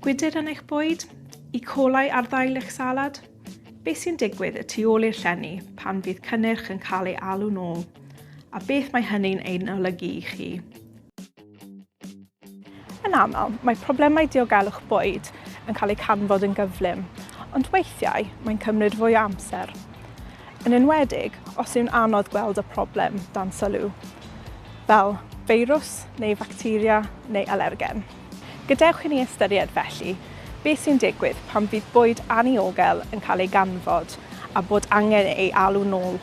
Gwydr yn eich bwyd? E. coli ar ddail eich salad? Beth sy'n digwydd y tu ôl i'r llenni pan fydd cynnyrch yn cael ei alw'n ôl? A beth mae hynny'n ein olygu i chi? Yn aml, mae problemau diogelwch bwyd yn cael eu canfod yn gyflym, ond weithiau mae'n cymryd fwy o amser. Yn enwedig os yw'n anodd gweld y problem dan sylw, fel feirws neu facteria neu alergen. Gadewch i ni ystyried, felly, beth sy'n digwydd pan fydd bwyd anniogel yn cael ei ganfod a bod angen ei alw nôl.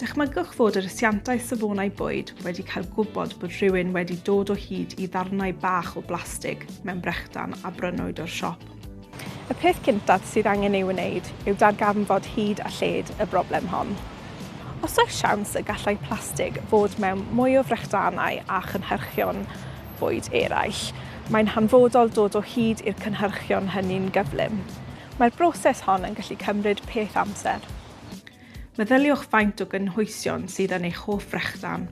Dychmygwch fod yr asiantaeth safonau bwyd wedi cael gwybod bod rhywun wedi dod o hyd i ddarnau bach o blastig mewn brechdan a brynwyd o'r siop. Y peth cyntaf sydd angen ei wneud yw darganfod hyd a lled y broblem hon. Os oes siawns y gallai plastig fod mewn mwy o frechdanau a chynhyrchion bwyd eraill, mae'n hanfodol dod o hyd i'r cynhyrchion hynny'n gyflym. Mae'r broses hon yn gallu cymryd peth amser. Meddyliwch faint o gynhwysion sydd yn eich hoff frechdan.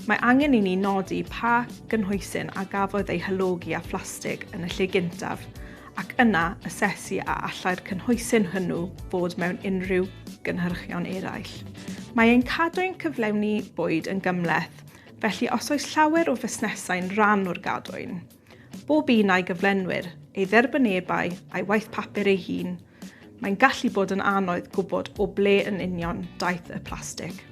Mae angen i ni nodi pa gynhwysyn a gafodd ei hylogi â phlastig yn y lle gyntaf, ac yna asesu a allai'r cynhwysyn hwnnw fod mewn unrhyw gynhyrchion eraill. Mae ein cadw ein cyflawni bwyd yn gymhleth, felly os oes llawer o fusnesau'n rhan o'r gadwyn, Bob un a'i gyflenwyr, ei dderbynebau a'i waith papur ei hun, mae'n gallu bod yn anodd gwybod o ble yn union daeth y plastig.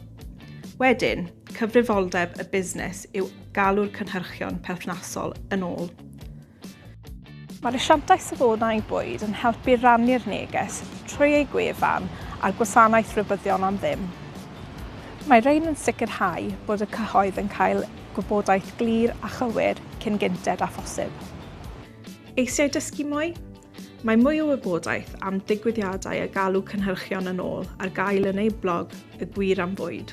Wedyn, cyfrifoldeb y busnes yw galw'r cynhyrchion perthnasol yn ôl. Mae'r asiantaeth safonau bwyd yn helpu rannu'r neges trwy eu gwefan a'r gwasanaeth rhybuddion am ddim. Mae rhain yn sicrhau bod y cyhoedd yn cael Gwybodaeth glir a chywir cyn gynted â phosib. Eisiau dysgu mwy? Mae mwy o wybodaeth am digwyddiadau a galw cynhyrchion yn ôl ar gael yn eu blog Y Gwir am Fwyd.